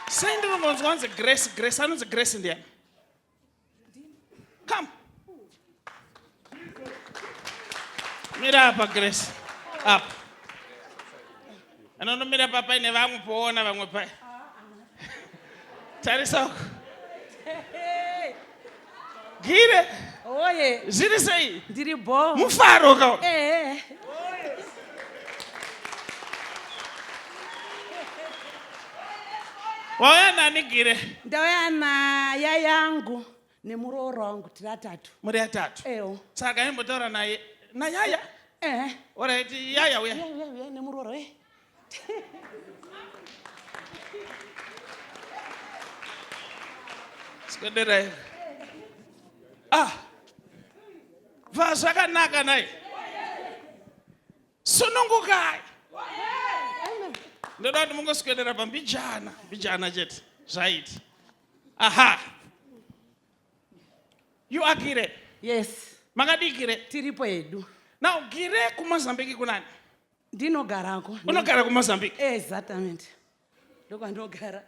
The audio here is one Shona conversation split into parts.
sei ndinongonzwa anzi grace grace anonzi grace ndiani come mira apa grace apa anonomira pa paine vamwe poona vamwe paya tarisa uko Gire. Oye. Zviri sei? Ndiri bho. Mufaro ka. Eh. Wauya nani Gire? Ndauya na yayangu nemuroora wangu tiri atatu. Muri atatu. Eyo. Saka imbotaura naye. Na yaya. Eh. Alright, yaya uya. Yaya uya nemuroora. Eh. swederai ah bva zvakanaka nai sunungukai ndoda kuti mungoswedera pambijana mbijana chete zvaiti aha you are gire yes makadii gire tiripo hedu now gire kumozambique kunani ndinogarako unogara kumozambique exactament ndokwandinogara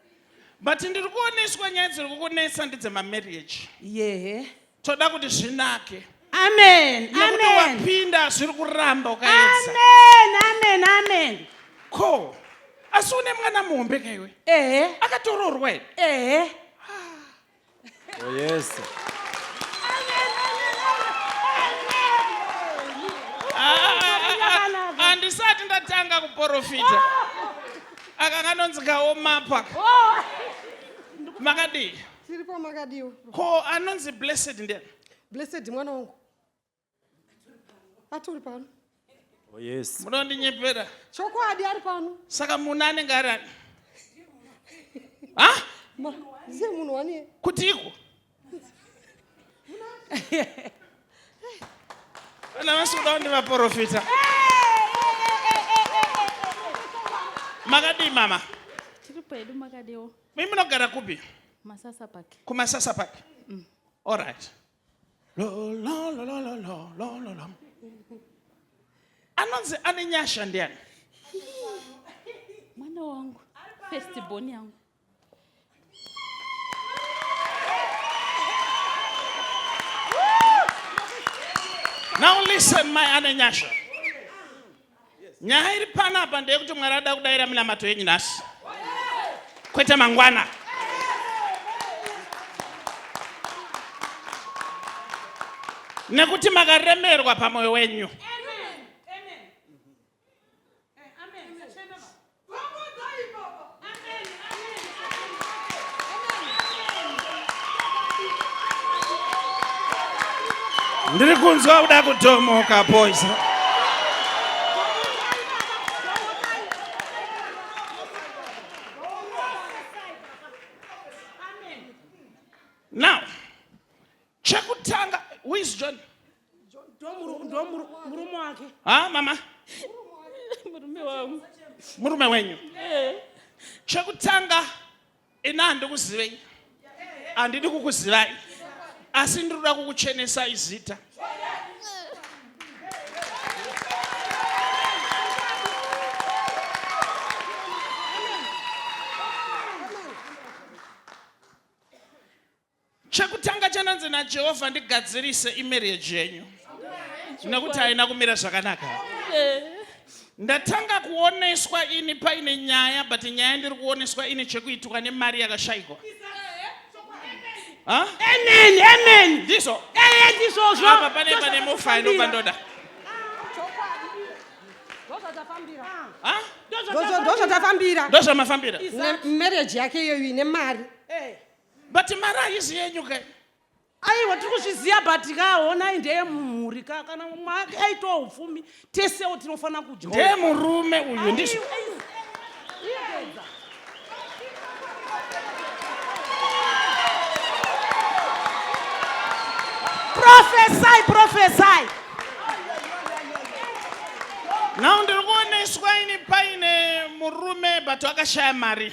but ndiri kuoneswa nyaya dziri kukunetsa ndidzemamarriage yehe toda kuti zvinake amen nekuti amen wapinda zviri kuramba ukaedza amen amen amen ko asi une mwana muhombe kaiwe ehe akatoroorwa here ehe Oh, yes. handisati ndatanga kuporofita aka kanonzi kaomapa makadii tiripo makadiwa ko anonzi blessed ndiani blessed mwana wangu atori pano oh, yes munondinyepera chokwadi ari pano saka munhu anenge ari ani ha ndiye munhu wane kutiko vana vasi kuda kundi vaprofita makadii mama tiri pedu makadiwo mi munogara kupi masasa pake kumasasa pake mm. all right anonzi ane nyasha ndiani mwana wangu festibon yangu now listen my anenyasha nyaya iri panapa ndeyekuti mwari ada kudaira minamato yenyu nhasi kwete mangwana nekuti makaremerwa pamwoyo wenyu ndiri kunzwa kuda kutomoka boys now chekutanga who is john murume wake ha mama murume wangu murume wenyu eh. chekutanga ini handikuzivei handidi kukuzivai asi ndinoda kukuchenesai zita Chekutanga chandanzi naJehovha ndigadzirise imarriage yenyu nekuti haina kumira zvakanaka. Ndatanga kuoneswa ini paine nyaya but nyaya ndiri kuoneswa ine chekuitwa nemari yakashaikwa. Huh? Amen, amen. Ndizvo. Eh, ndizvozvo. Apa pane pane mofa inobva ndoda. Ndozvatafambira. Ndozvamafambira. Marriage yake iyoyo ine mari. Eh. but mari haisi yenyu ke aiwa tiri kuzviziva but ka honai ndeye mumhuri ka kana mwake aitawo upfumi tesewo tinofanira kudya ndeye murume uyu ndizvo profesai profesai now ndiri kuoneswa ini paine murume but akashaya mari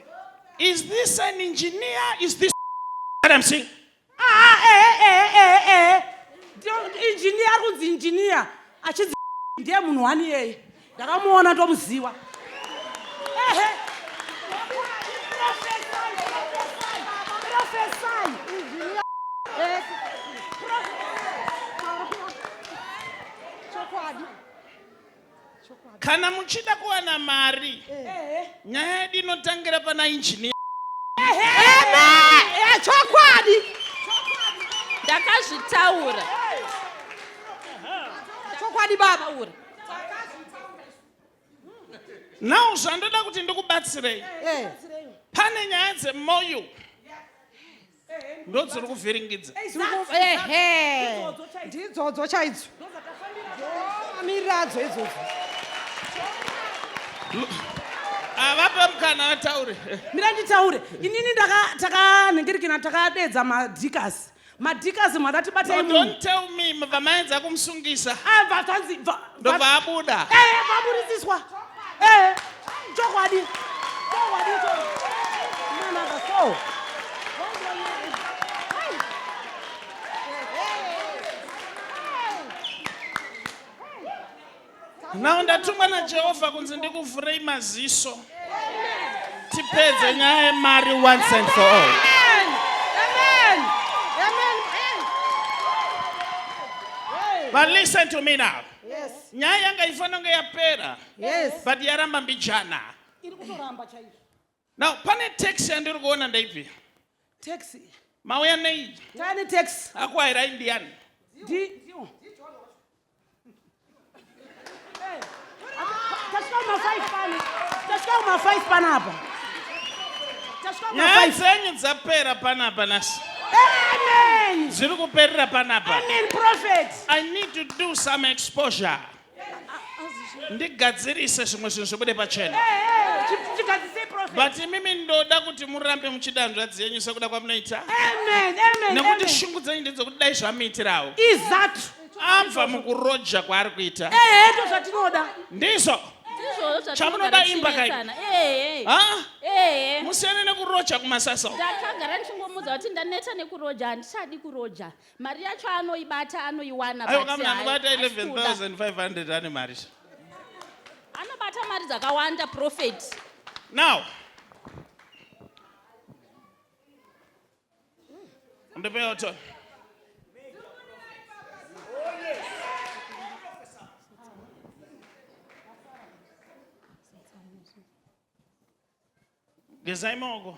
Is this an engineer? Is this what I'm saying? Ah, eh, eh, eh, eh. Engineer kunzi engineer. Achidzi ndiye munhu wani yeye. Ndakamuona ndomuziwa. Ehe. Chokwadi. kana muchida kuwana mari nyaya yedu inotangira pana injiniya chokwadi ndakazvitaura chokwadi baba ura now zvandoda kuti ndikubatsirei eh. pane nyaya dzemoyo ndodziri kuvhiringidza ndidzodzo chaidzo miriradzo idzodzo avape mukana vataure mira nditaure inini takanhengerekena takadeedza madhikasi madhikasi mwada tibatei don't tell me vamaedza kumusungisa ah, ndobva abuda eh, vaburisiswa eh. Chokwadi. Chokwadi cho. Mwana ka so. Now ndatumwa na Jehovah kunzi ndikuvhurei maziso. Tipedze nyaya yemari once and for all. But listen to me now. Yes. Nyaya yanga ifanira kunge yapera. yes but yaramba mbijana iri kutoramba chaizvo now pane taxi yandiri kuona ndaipi taxi mauya nei tani taxi akuairai ndiyani panapa nyaya dzenyu dzapera panapa nasi Amen. Ziri kuperera panapa. Amen prophet. I need to do some exposure. ndigadzirise zvimwe zvinhu zvibude pachena but imimi ndoda kuti murambe muchida hanzvadzi yenyu sekuda kwamunoita nekuti shungu dzenyu ndedzokuti dai zvamuitirawo izatu abva mukuroja kwaari kuita ndizvo chamunoda imba kai musiyane nekuroja kumasasa ndakagara ndichingomudza kuti ndaneta nekuroja handichadi kuroja mari yacho anoibata anoiwana aiwa but kamna hai- anobata haisi kuda. 11500 ane mari sha. anobata mari dzakawanda profeti now ndipewo to gezai maoko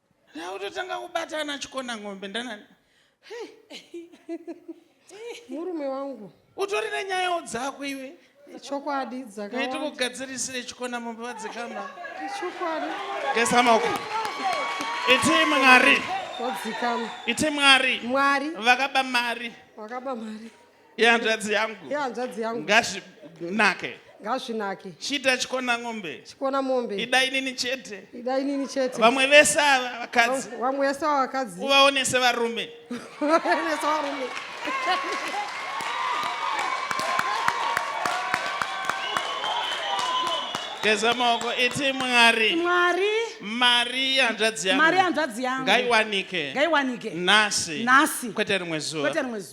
Ndautotanga kubatana chikona ng'ombe ndanani. Murume wangu. Utori nenyayawo dzako iwe. Chokwadi dzaka. Ngaiti kugadzirisire chikona mombe vadzikama. Chokwadi. Gesa mako. Iti mwari. Wadzikama. Iti mwari. Mwari. Vakaba mari. Wakaba mari. yehanzvadzi yangu yehanzvadzi yangu ngazvinake ngazvinake chiita chikona ng'ombe chikona mombe ida inini chete ida inini chete vamwe vese ava vakadzi vamwe vese ava vakadzi uvaonese varume uvaonese varume geza maoko iti mwari mwari mari yanzvadzi yangu mari yanzvadzi yangu ngaiwanike ngaiwanike nhasi nhasi kwete rimwe zuva kwete rimwe zuva